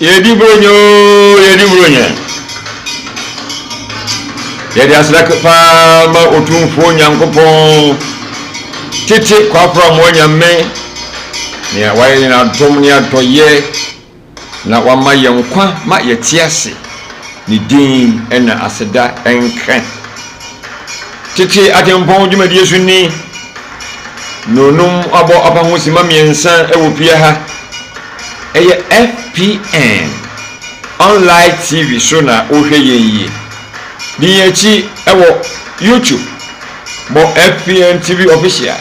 Yɛdi Buronya oo, yɛdi Buronya. Yɛde aseda paa ma Otumfoɔ Nyankopɔn, tete kwakoramoa Nyame, nea wayɛ yɛn adom ne adɔyɛ na wama yɛn nkwa ma yɛte ase. Ne din na aseda nka. Tete atempɔn dwumadie so ni. Nnuonum abɔ apa ho simma mmiɛnsa wɔ pia ha. Ɛyɛ FPN online TV so na wohwɛ yɛn yi. Di yɛn akyi wɔ YouTube. Bɔ FPN TV Official,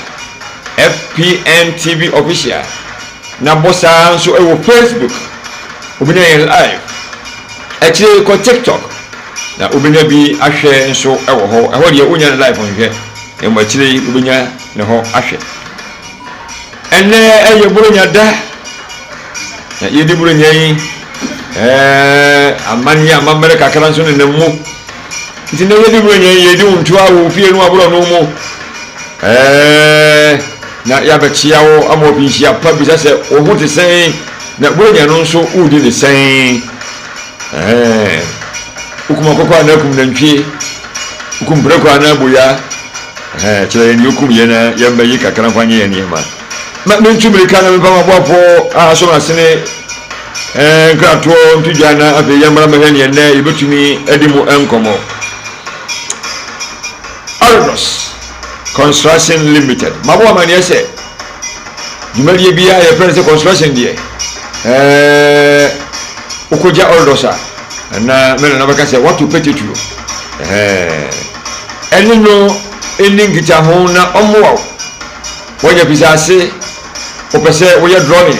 FPN TV Official, na bɔ saa ara nso wɔ Facebook. Wobɛnya yɛn live. Akyire yi kɔ TikTok na wobɛnya bi ahwɛ nso wɔ hɔ. Ɛhɔ deɛ wonnya no live nhwɛ. Na mmom akyire yi wobɛnya ne hɔ ahwɛ. Ɛnnɛ yɛ Buronya da, na yɛdi Buronya yi amanneɛ amammerɛ kakra nso nenam mu. Nti nnɛ yɛdi Buronya yi, yɛdi wo ntoa wɔ wo fie no aborɔno mu. Na yɛabɛkyea wo ama woapi nhyia pa bisa sɛ wo ho te sɛn, na Buronya no nso woredi ne sɛn. Wokum akokɔ anaa kum nantwie? Wokum prako anaa boya? Ɛhɛn, kyerɛ yɛn nea okum yɛn na yɛmmɛgye kakra mfa nyɛ yɛn nneɛma. Ma mintu mmirika na memfa m'aboafo a asom asene eh, nkratoɔ nto gya na afei yɛmmra mmɛhwɛ nea nnɛ yebetumi adi mu nkɔmmɔ. Arenos Construction Limited, Mabɔ amanneɛ sɛ, dwumadie biara a yɛfrɛ no sɛ construction deɛ ɛɛ wokɔgya orders a ɛna me nana bɛka sɛ wato pɛtɛtuo ɛɛ ɛne no ɛni nkitaho na ɔmmoa wo wɔnyɛ fisaase wopɛ sɛ woyɛ drawing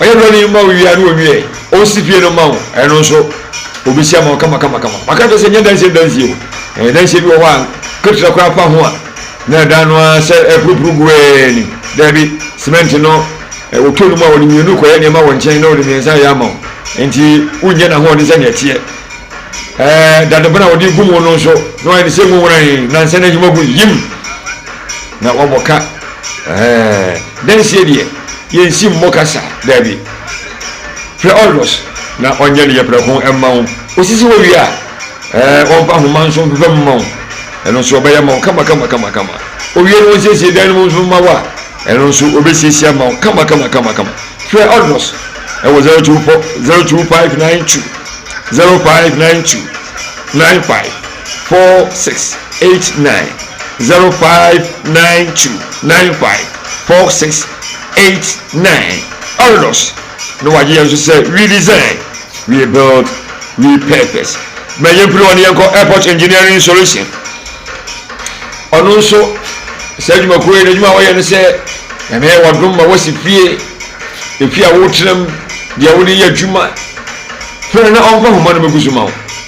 Ɔyɛ broni no ma wo wie a ne ɔnwie ɛ. Ɔsi fie no ma wo ɛno nso ɔbɛsi ama wo kama kama kama. Maka kyerɛ sɛ nyɛ dansie dansie o. Ɛɛ dansie bi wɔ hɔ a ketewa koraa fa ho a na ɛdan no ara sɛ ɛpurupuru gu ɛɛ ni. Daabi, cement no ɔtɔ no mu a ɔde mmienu kɔyɛ nneɛma wɔ nkyɛn na ɔde mmiɛnsa ayɛ ama wo. Nti wonyɛ n'ahoɔden sɛdeɛ ɛteɛ. Ɛɛ dadebena a ɔde gu mu no nso na wayɛ no sɛ mu wurae nansa na ahim agu yim na wabɔ ka. Ɛɛ dansie deɛ. yɛnsi mmɔ kasa, daabi. Frɛ Olgos na ɔnyɛ ne yɛprɛko mma wo. Ɔsisi hɔ wie a, ɛɛ ɔmfa nhoma nso mfefa mu mma wo. Ɛno nso ɔbɛyɛ ama wo kama-kama-kama-kama. Ɔwie na ɔnsiesie dan no mu nso mma wo a, ɛno nso ɔbɛsiesie ama wo kama-kama-kama-kama. Frɛ Olgos wɔ 024 02592 05929 5. four six eight nine zero five nine two nine five four six eight nine ɔredɔs na wagye yɛn nso sɛ we design we build we purpose ma yɛn piri wɔn yɛn kɔ airport engineering solution ɔno nso saa adwumakuo yi n'adwuma a wɔyɛ no sɛ nyame yɛ wɔdom ma wɔsi fie efie a wɔtena mu deɛ wɔde yɛ adwuma fɛrɛ na ɔmfa homa no mɛgu so ma wo.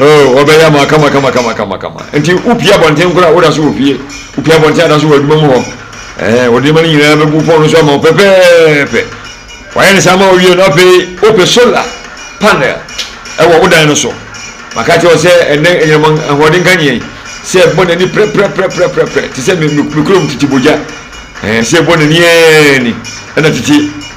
oh wɔbɛyɛ ama kama kama kama kama kama nti wopie abɔnten koraa woda so wɔ fie wopie abɔnten ada so wɔ adwuma mu hɔ ɛɛ wɔde nneɛma no nyinaa bɛgu fɔn no so ama wo pɛpɛɛpɛ wɔayɛ ne saa ma wɔwie no afei wopɛ solar panel ɛwɔ wo dan no so maka kyerɛ sɛ ɛnɛ anyinam ahoɔden ka nyɛn sɛ ɛbɔ n'ani prɛprɛprɛprɛprɛ te sɛ me kurom tete bogya ɛɛ sɛ ɛbɔ n'ani ɛɛ ni ɛna tete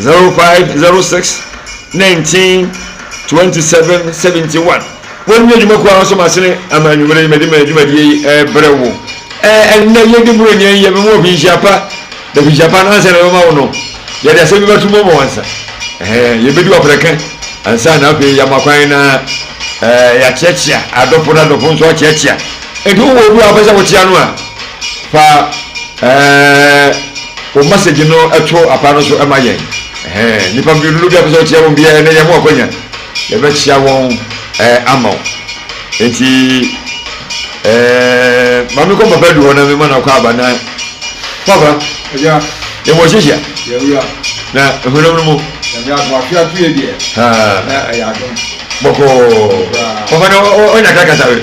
Zero five zero six nineteen twenty seven seventy one. Wɔn nyɛ adwuma kuo ahosuo masene ama anwummere yi mɛde mɛ dwumadie yi ɛbrɛ wo. Ɛɛ ɛnnɛ yɛ de buroni ɛnyɛ bɛ mu ɔfinhyia pa na finhyia pa no ansa na bɛma wo no yɛ de asɛm bi bɛto mu ama wansa. Ɛhɛn yɛ bɛdi waprɛka ansa na afei yɛ ama kwan na ɛɛ yɛ akyeakyea adɔfo na adɔfo nso akyeakyea. Enti wowɔ obi a wopɛ sɛ wokyea no a, fa wo masɛgyi no to apa no so ma yɛn. Nnipa mmienu no bi a wopɛ sɛ wokyea wɔn biara nnɛ, yɛma wo akwanya. Yɛbɛkyea wɔn ama wo. Enti ma menkɔ papa adu hɔ na mema no akwaaba na papa. Agya. Yɛn wɔ hyehia. Yɛwura. Na ehunam no mu. Nyame adom afe ato yɛ deɛ. Ha. Na ɛyɛ adom. Bɔkɔɔ. Papa na ɔnya kakasa we.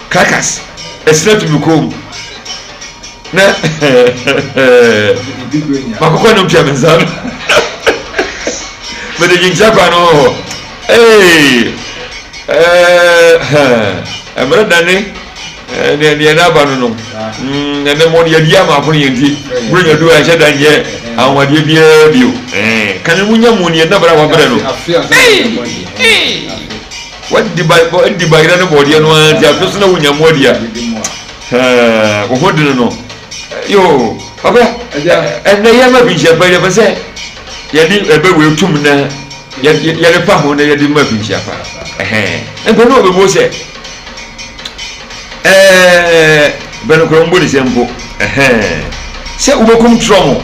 Caracas, ɛsena tu me kɔn mu na makokɔ no mpia me nsa no mede gyinkyia kwan no hɔ ee ɛmmerɛ dane deɛ deɛ no aba no no ɛnɛ mmɔ no yɛdi ama akono yɛ nti berɛ nya du a ɛhyɛ da nyɛ ahowadeɛ biara bio kane mu nya mu neɛ nabra wabrɛ no W'adi ba bɔ adi ba yera ne bɔɔdeɛ no ara nti afei so na wonya mu adi a hɛɛ wo ho dene no yoo papa ɛnɛ yɛ ma finhyia pa yɛ pɛ sɛ yɛde ɛbɛ wei tum na yɛde fa ho na yɛde ma finhyia pa ɛhɛn mpɛ na ɔbɛbuo sɛ ɛɛ bɛnokora mbɔ ne sɛ mpo ɛhɛn sɛ wobɛkum trɔmo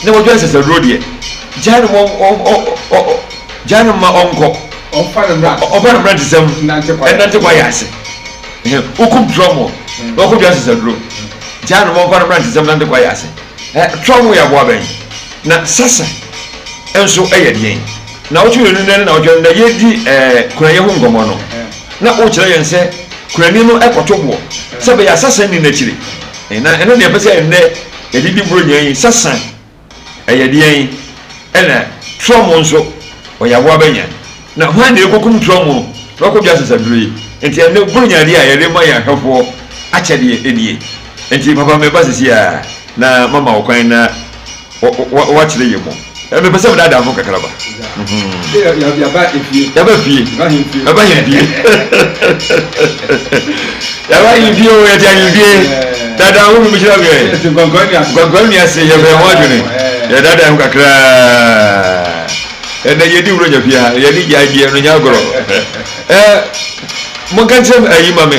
na wɔdwa nsasaduro deɛ gyaa no mɔ Gya no mma ɔnkɔ. Ɔmfa ne mmara ntesɛm. Ɔmfa ne mmara ntesɛm. Nnante kwaeɛ. Nnante kwaeɛ ase. Wokum Trɔmo na ɔkɔdua sesaduro. Gya no ma ɔmfa ne mmara ntesɛm nnante kwaeɛ ase. Trɔmo yɛ aboa bɛn? Na Sasa nso yɛ deɛn? Nnawɔtwe mmienu nnɛ ne nnawɔtwe no na yɛredi kunayɛ ho nkɔmmɔ no, na worekyerɛ yɛn sɛ kunani no kɔto boɔ sɛ ɛbɛyɛ a Sasa nni n'akyiri. Na ɛno na yɛpɛ sɛ nnɛ yɛde di Buronya yi, Sasa. ɛyɛ deɛn? Ɛna torɔmo nso, ɔyɛ aboa bɛnya? Na hwan na ɛkɔkum torɔmo na wakɔdwa asasaduro yi? Nti ɛnnɛ buronya adeɛ a yɛde ma yɛn ahwɛfoɔ akyɛdeɛ nie. Nti papa meba sesie ara na mama wo kwan na woakyerɛ yɛn mu. Mepɛ sɛ medaadaa mo kakraba. yaba fie yaba hin fie yaba hin fie o yɛte ahin fie dada wo mi mehyira wiɛ nkwankwa nnuase yɛbrɛ ho adwene yɛdada ho kakra ɛnɛ yɛdi wuro nya fie ha yɛde gyae deɛ no nya agorɔ monka nkyerɛ ayi ma me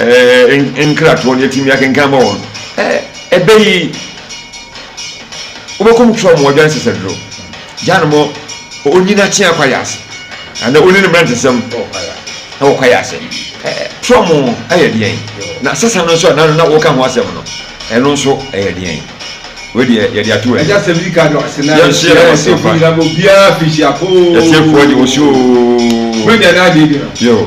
nkratoɔ no yɛtumi akenkan ma wɔn ɛbɛ yi wobɛkɔm kyerɛ wɔn ɔdwan sɛsɛdoro gya no mɔ ɔnyini akye akwa yɛ ase anaa ɔni no mmerantesɛm ɛwɔ kwa yɛ ase kyerɛ wɔn ɛyɛ deɛn na sɛsa no nso a na woka ho asɛm no ɛno nso ɛyɛ deɛn wedeɛ yɛde ato wɔ ɛyɛ sɛm yi ka no ase na yɛhyɛ ɛsɛfo nyina bɔ biaa fihyi akoo yɛsɛfoɔ de wɔsuo wɛnyɛ no adeɛ bi no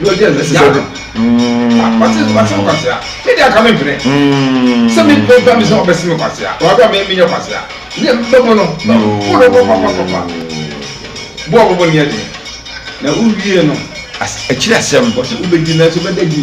na ɔdi ɛno ɛsɛ sɛ ɔka ɔte ɔte mu kwasea ne deɛ aka me mpene sɛ me bɛ ba mi sɛ ɔbɛsi me kwasea ɔbɛ mi mi nyɛ kwasea ne bɛ mu no na ɔbɔ no bɔ papa papa bɔ ɔbɔ bɔ ne yɛ den na wowie no akyiri asɛm wɔsɛ wobɛdi nanso bɛda di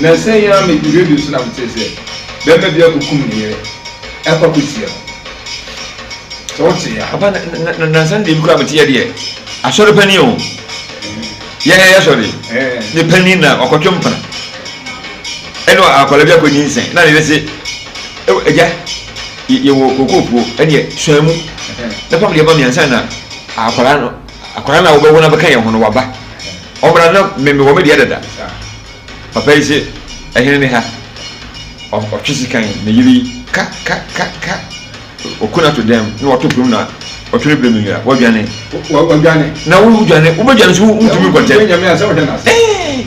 Nnansa yi ara mete radio so na metee sɛ barima bi akokum ne yere ɛkɔ akɔsia no. Sɛ wote a. Papa na na na nansa no deɛ bi koraa mete yɛ deɛ asɔre panin o. Yɛn yɛ sɔre. Ne panin na ɔkɔtwe mpena. Ɛne akwadaa bi akɔnyi nsɛn na ne yere se agya yɛwɔ kookoo puo ɛneɛ suan mu na pam deɛ ma me ansa na akwadaa no Akwadaa no a wobɛwo no abɛka yɛn ho no, waba. Ɔmmra na me mewɔ me deɛ dada. Papa yi se, Ɛhene ne ha. Ɔtwe sekan ne yere yi, ka ka ka ka. Ɔku no ato dɛm na wato pirim na ɔtwe no pirim nwira. Wadwane. Wadwane. Na wodwane, wobɛdwane so wontumi nkɔ ntɛm. Wobɛnya me ansa wohwɛ no ase. Ee!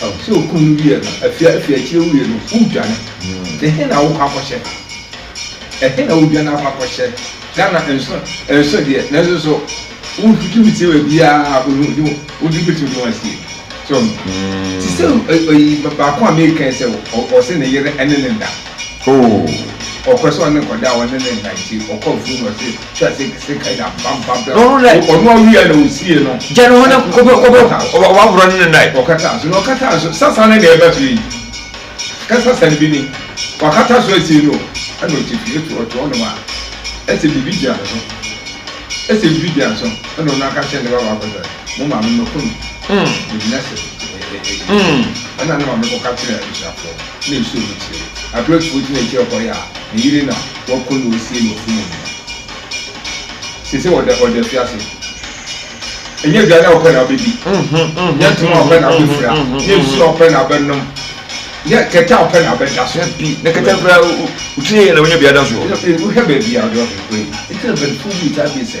Sɛ okum no wiɛ no, afia afia akyire wie no, wodwane. Ɛhe na wokɔ akɔhyɛ? Ɛhe na wodwane akɔ akɔhyɛ? Ghana nso nso deɛ, nanso so wotumi sie wɔ biara, wotumi bɛtumi de wɔn asie. So, te sɛ baako a meka sɛ ɔse ne yere ne ne da. oh. Ɔpɛ sɛ ɔne kɔda a ɔne ne nnante ɔkɔ afuru na ɔse hwɛ ase kese kae da mpampa bla ɔno awia na ɔsie no gya ne ho ne kɔbɛ waworɔ ne ne nae ɔkata so na ɔkata so sasa ne na ɛba fie yi ka sasa no bi ni wakata so asie no ɛna ɔte fie to ɔte ɔnom a ɛsɛ biribi gyina no so ɛsɛ biribi gyina no so ɛna ɔno aka kyerɛ ne ba baako sɛ mo maame mɛkɔ no ɛgyina sɛ ɛna ne maame kɔka kyerɛ abusuafoɔ na ehyɛɛ mu kyerɛ yi, Abrasifo gyina kyerɛ hɔn a ne yer na wɔkõ na osie no ɔsom mu no ma. Sesei ɔda ɔda efiase. Nnyɛ edziadze a ɔpɛ na obedzi, nnyɛ ntsɛm a ɔpɛ na obefura, nnyɛ nsu a ɔpɛ na abɛnom, nnyɛ kɛtɛ a ɔpɛ na abɛda so. Dabi, na kɛtɛ koraa, otum yɛ na oenya biada so. Wohwɛ beebi a ɔda ɔbɛn kɔ yi, nkyɛ mpanyimfo bii tsaa bi sɛ.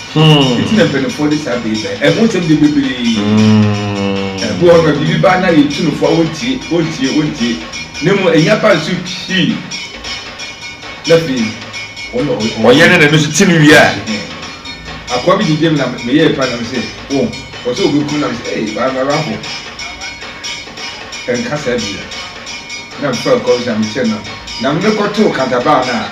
Hmm. Nti na mpanimfoɔ de saa bɛyi bɛn. Ɛho nsɛm de bebree. Hmm. Ɛbu hɔ no biribi ba na yɛ ntunufo a wɔntie wɔntie wɔntie. Na mmom ɛyi aba nso pii. Na afei wɔyɛ ɔyɛ. Ɔyɛ ne na ɛno nso ti no wie a. Hmm. Akɔa bi gyegye mu na meyɛ ɛfa nam sɛ wɔn oh, wɔsɛ obi kum nam sɛ ɛyɛ baa mara ho. Ɛnka saa bi na mfa kɔm sɛ mekyɛ nam. Nam ne kɔtoo kantabaa no a.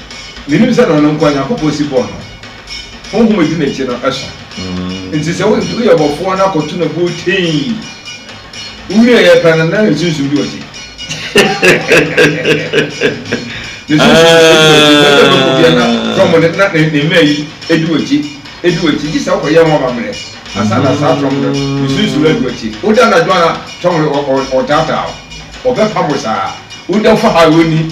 Menim sɛ na ɔno nkoa Nyankopɔn si bɔɔ no. Honhom a edi n'akyi no sõ. Enti sɛ woyɛ bɔfoɔ na kɔto no buo tee, wowieeɛ pɛ no na ne sunsum bi wɔ akyi. Ne sunsum bi wɔ akyi. Sɛ sɛ bɛkɔ bia na trɔmo no na ne ne mmaa yi edi wɔ akyi, edi wɔ akyi. Gye sɛ wokɔyɛ ho amammerɛ ansa na saa trɔmo no ne sunsum no adi wɔ akyi. Woda anadwo a trɔmo no ɔɔtaataa wo, ɔbɛpam wo saa. Woda fa ha a ɔnni.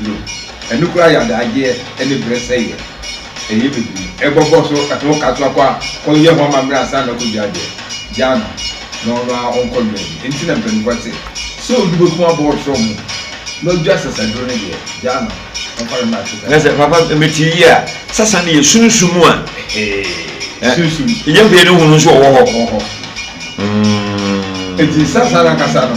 bio. Ɛno koraa yɛ adaagyeɛ ɛne berɛ sɛeɛ. Ɛyɛ bebree. Ɛbɔbɔ so ɛto wo ka so akɔ a, kɔ yɛ ho amammerɛ ansa na akɔdua adeɛ. Gyaa no na ɔno ara ɔnkɔ dua bi. Ɛnti na mpaninfoɔ se, sɛ obi bɛkum abɔɔ trɔ ho na ɔdua sasaduro no deɛ, gyaa no ɔmfa no mmra asetra. Nasɛ papa mete yie a, sasa no yɛ sunsum a. Ɛhee, sunsum. Nyɛ hwee no hunu nso ɔwɔ hɔ. Ɔwɔ hɔ. Ɛnti sasa no ankasa no.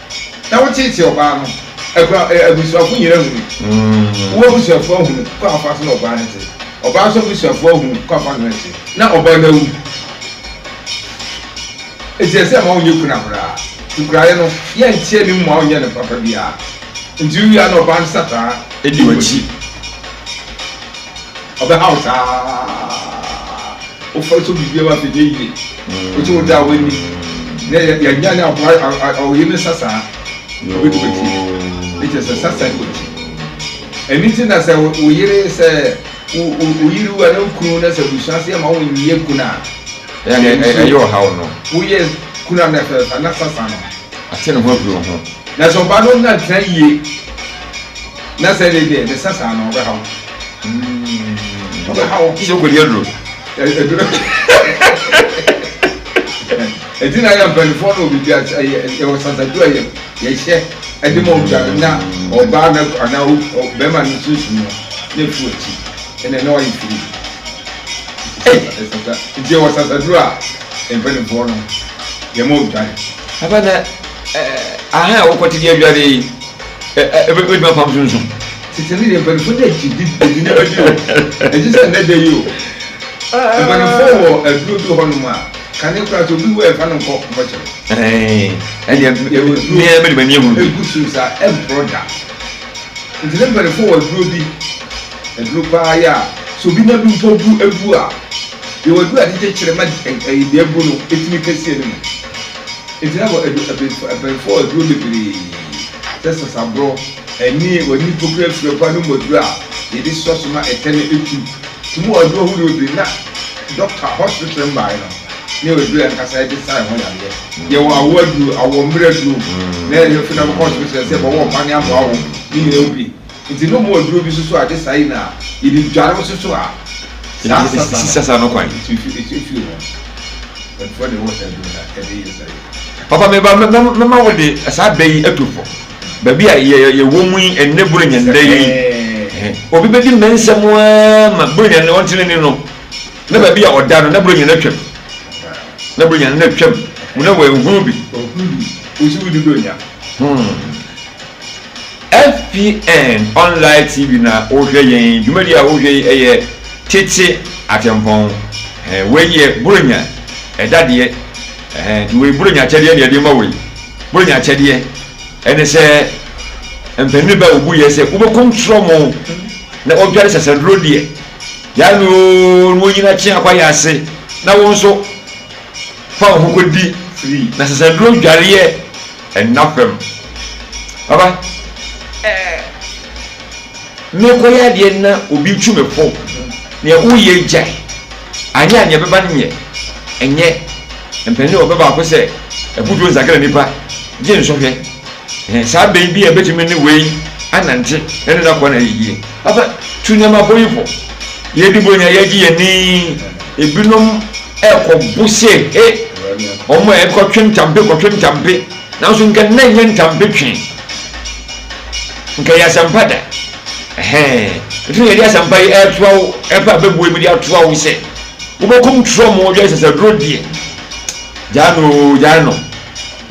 na wotiatia ɔbaa no akura abusuafo nyinaa ahunu mm. wo abusuafo ahunu kɔ afa so na ɔbaa no te ɔbaa nso abusuafo ahunu kɔ afa no te na ɔbaa no awu eti ɛsɛ ma wonyɛ kuna koraa nkuraeɛ no yɛnteɛ ne mu a wonyɛ no papa biara nti wia na ɔbaa no sataa ɛdi wakyi ɔbɛhaw saa wofa so biribiara wapɛ nyɛ yie Ɔnti ɔgya a w'ani na yɛ yɛ nya ne aboa a a a ɔyɛ ne sasaa ɔbɛ di w'akyi ne kyɛ sɛ sasaa di w'akyi ɛni ti na sɛ wo yere sɛ wo wo wo yere wu a na wo kunu na sɛ abusua se ɛma wo nyɛ kunu a ɛyɛ ne ɛyɛ ɛyɛ ɔhaw no wo yɛ kunu a na fɛ na sasaa no ate ne ho afiri wo ho na sɛ ɔbaa no na tena yie Na sɛ ɛnnɛ yi deɛ ne sa saa no ɔbɛha wo mm ɔbɛha wo. Sɛ ɔkɔdi aduro ɛ aduro ɛti na yɛ mpanimfoɔ na obi bia yɛ yɛwɔ sasadu a yɛ yɛhyɛ ɛde ma obi ano na ɔbaa na anaa bɛrima no sunsun no na efu akyi ɛna na wayɛ firi ɛsasa nti yɛwɔ sasadu a mpanimfoɔ no yɛ ma odwan. Abana ɛɛ ahan a wokɔte di adware yi Ebetumi afa nso nso. Tete no deɛ mpanimfoɔ de akyidi de nneɛma bi o. Ɛgye sɛ nnɛ da yi o. Mpanimfoɔ wɔ aduro bi wɔ hɔnom a kane koraa sɛ obi wu a yɛmfa no nkɔ mɔkyere. Ɛnneɛ mmea bɛ de m'ani ahunu bi. Egu so saa ɛmporɔ da. Nti ne mpanimfoɔ wɔ aduro bi. Aduro paa yɛ a sɛ obi nan bi mpo bu abu a yɛwɔ aduro a yɛde kyekyere ma ɛyi deɛ abu no etumi kɛseɛ no mu. Egyina wɔ adu abɛnfo abɛnfo a aduro bebree sɛ sasaborɔ, ani, w'ani mpokua afiri ɔbaa no mu aduro a yɛde sua so ma ɛtɛ no etu tum wɔ aduro ahodoɔ bebree na dɔkta hospital mmaeɛ no ne aduro ankasa ɛde sa ɛho yareɛ. Yɛwɔ awoɔ aduro, awoɔ mmerɛ aduro na yɛde bɛfiri na bɛkɔ hospital sɛ bɛwɔ mma ne aboa wo ne nyina wo bi Nti no moa duro bi susu ade saa yi na yɛde dware wo susu a saa sasa no si sasa no kwan ɛtu ɛtu ɛtu ɛtu ho ɛfoɔ de wɔ saa duro na ɛde yɛ saa yi. Papa me ba mɛma wo de saa bɛ yi ɛtu fo baabi a yɛ yɛ wɔ mu yi ɛnɛ buronya nnɛ yi obi bɛ di mɛnsɛ mu aa ma buronya nnɛ ɔntene ni no na baabi a ɔda no na buronya no atwam na buronya no atwam mu na wɔ ɛhunu bi. Ɔhunu bi wosi wo di buronya. Hmm. FPN online TV na wohwɛ yɛn dwumadi a wohwɛ yi yɛ tete atempɔn eh wei yɛ buronya ɛdadeɛ eh nti wei buronya akyɛdeɛ na yɛde ma wo yi buronya akyɛdeɛ ɛne sɛ mpanin bɛ a obu yɛ sɛ wobɛkom trɔ mo na ɔdware sasanduro deɛ yaa no oo na ɔnyina kye akɔ ayɛ ase na wo nso fa wo ho kɔdi na sasanduro dwareɛ Nna fam. Papa, eh, merekɔyɛ adeɛ na obi retwi me fo. Nea woreyɛ yi gyae. Anyɛ a nea ɛbɛba no nyɛ. Ɛnyɛ. Mpanin ɔpɛ baako sɛ, abutuo nsakra nnipa, gye nsɔhwɛ. Ɛhɛ, saa bɛ yi bi a ɛbɛtumi ne wei anante na ɛne no akɔ na ayɛ yie. Papa, tu nneɛma bɔ yi fo. Yɛredi bɔ nyinaa, yɛregye yɛn ani. Ebinom. rekɔ bu se, He! Wɔn a ɛkɔtwe ntampe kɔtwe ntampe, nanso nka nna nyɛ ntampe twe. Nka yɛ asɛmpa da. Ɛhɛn, ɛtumi yɛde asɛmpa yi ɛretoa wo, ɛpɛ a bɛbue mu de atoa wo sɛ, wobɛkum trɔm wo dwɛ sasaduro deɛ. Gyaa no oo, gyaa no.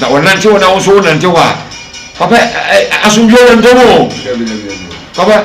Na ɔnante hɔ na wo nso wonante hɔ a, papa asomdwoeɛ wɔ ntam oo. Papa,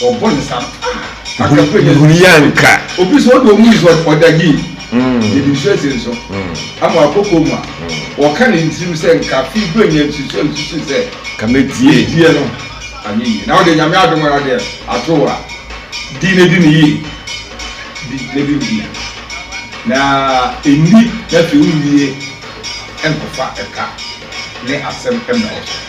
wɔbɔ ne saa paa aka pɛ yɛ huni yɛ nka obi sɛ ɔde ɔmu yi sɛ ɔdagye yɛnim sɛ se nso ama akɔkɔ mu a wɔka ne ntirim sɛ nka fi bɛ nya nsusu a nsusu sɛ ka mɛtie die no anyɛ yie na wode nyame adom ara deɛ ato a di ne di ne yie di ne di ne yie na ɛnni na afei wowie nkɔfa ɛka ne asɛm mmra wo so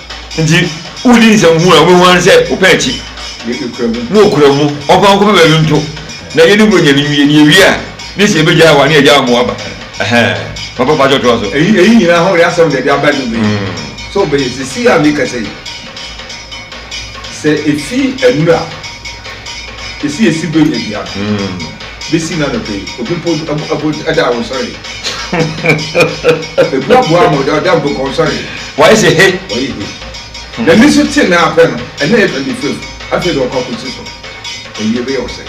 Nti wodi nsɛm hunu a, wobɛhu ara ne sɛ wopɛ akyi, ne ɔkura mu, ɔmfa wo nkɔpɛ baabi nto, na yɛne wo anya no nwie, na yɛwie a, ne sɛ yɛbɛgyaa wo a, ne yɛagyaa wo ma woaba. Ɛhɛɛ, papa fa kyɛw toa so. Eyi eyi nyinaa ho reasɛm na ɛde aba nnome yi. So wobɛyɛ seesei a mekasa yi? Sɛ efi anura a, esi esi bɛnya biara. besi nnɛ anɔpa yi, obi mpo mpo da a ɔnsɔre. Ebi aboa ama ɔda ɔda mpo ka ɔnsɔre. Wɔayɛ sɛ he. Wɔayɛ he. Hmm. Na nniso te na apɛ no, ɛna yɛ twenty fifth, afei de ɔkɔ akɔsi so. Awie bɛyɛ ɔsɛe.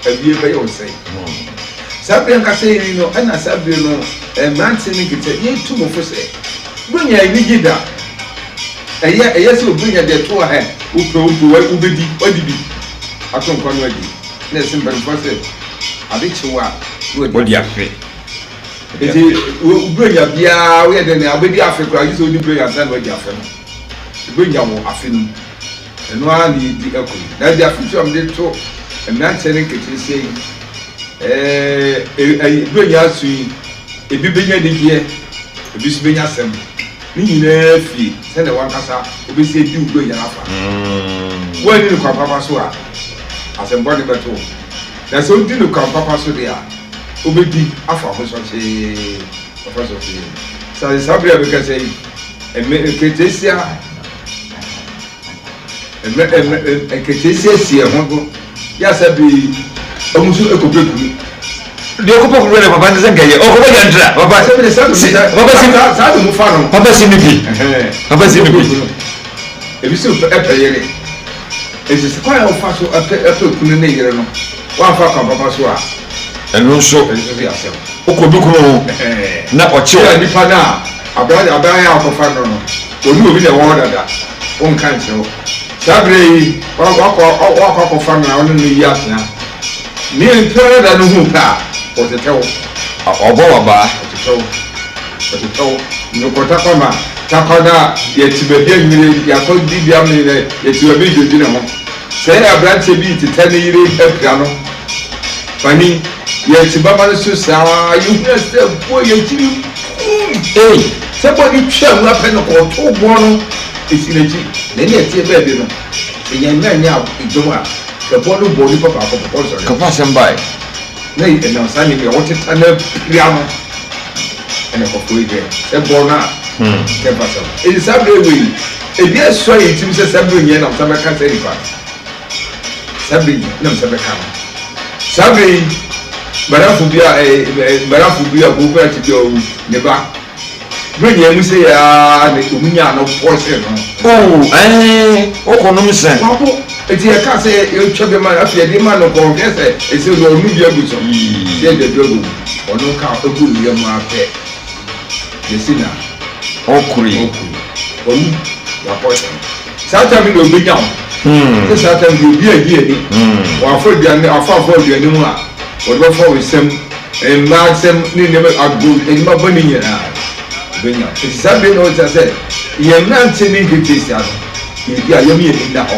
Awie bɛyɛ ɔsɛe. Hmm. Saa bere ankasa yi no, ɛna saa bere no, eh, mmerante no nkete, yɛtu mo fo sɛ, Wonnya enyigye da. Ɛyɛ ɛyɛ sɛ obi nya deɛ ɛto ahɛ. Wopɛ wompo wa wobɛdi wadi bi ato nkwa no adi. Na ɛse mpanimfoɔ sɛ ade kye wo a na wadi Wodi afe. afe. Wodi Nti afe. wo Buronya biara woyɛ dɛn a wobɛdi afe koraa gye sɛ wodi Buronya ansa na wadi afe no. Wobɛnya wo afe no mu. Ɛno ara na yɛdi ɛkɔ yi. Na ɛde afotuo a mede to mmeranteɛ ne nketeesia yi. ɛɛ bere yɛ aso yi ebi benya anigyeɛ ebi nso benya asɛm ne nyinaa fie sɛdeɛ wankasa wobɛsi adi wo bere yɛ afa mm. woanni no kwan papa so a asɛmbɔ ne bɛto wo na sɛ wodi no kwan papa so deɛ a wobɛdi afa ho sɔkyee afa sɔkyee sase saa bere a bɛkasa yi ɛmɛ nketesia Mmɛ mmɛ nketiesie si ɛho do yɛ asɛ bee ɔmo nso ɛkɔpɛ kunu. Deɛ ɔkɔpɛ kunu deɛ papa nsɛ nkɛyɛ ɔkɔpɛ yɛ ntra papa si papa si papa si mi bi papa si mi bi. Ebi si ɛpɛ yere esi si kwan a ɔfa so ɛpɛ ɛpɛ kunu ne yere no wanfa kwan papa so a. Ɛno nso ɛno nso yɛ asɛm. Ɔkɔ bi kunu ho na ɔkye o. Nipa naa. Aberanteɛ ɔbaa yi a wɔkɔfa no no, ɔne obi na ɛwɔ hɔ dada, ɔnka nkyerɛ wo. Saa berɛ yi, woakɔ woakɔ akɔfa no a wone no yi atea. Ne nti ara da no hu pɛ a, ɔtetɛ wo. Ɔbɔ w'abaa. Ɔtetɛ wo. Ɔtetɛ wo. Nnwokɔ takwa ma takwa no a yɛte baabi anwummere yi, yɛakɔ dibea me na yɛte baabi redwodwene ho. Sɛ aberanteɛ bi retetɛ ne yere apira no, Fanny, yɛ te baba no so saa, yɛ hunu ase dɛ boa yɛ gyiri kuum. Ei, sɛ boa no twaa nwura pɛ no kɔɔ too boɔ no si n'akyi, na ɛne ɛteɛ bɛɛ de no, yɛn mma nyɛ dɔm a, sɛ boa no bɔ onipa baako pɛ, kɔ nsɔre. Kɔfa asɛm bae, na ɛnam saa nneɛma yi a wɔteta na pira no na ɛkɔforo yi hwɛ, sɛ bɔ no a, kɛmpa asɛm. Enti saa berɛ wei, ebi asua yɛn tirim sɛ saa berɛ nyinaa nam saa bɛka saa nipa no. saa bere yi na mesɛ bɛka no saa bere yi mmarafo bi a ɛɛ eh, eh, mmarafo bi a boko ati bi a ɔwu ne ba bere nyɛ mu sɛ yaa ne ɔmu nyaa no pɔse no. oo ɛɛ ɔkɔ nom sɛ. wako eti ɛka sɛ yɛtwa bi ma afei ɛde ma no kɔnkɛ sɛ ɛsɛ ɔno ɔno bi agu so sɛ ɛdɛ bi agu ɔno ka ɔgu ne yɛ mu afɛ yɛsi na ɔkuri ɔkuri ɔmu wapɔse. saa tam no deɛ ɔbɛnya wo sɛ saa tam deɛ obi agye ani wɔafɔ aduane afɔ afɔ aduane mu a wɔde bɛfɔ wo nsɛm mmaa nsɛm ne nneɛma agbo nneɛma bɔ ne nyinaa ɔbɛnya wo nti saa bɛ na wɔkyerɛ sɛ yɛn nante ne nkete saa no yɛdi a yɛm yɛ ni da hɔ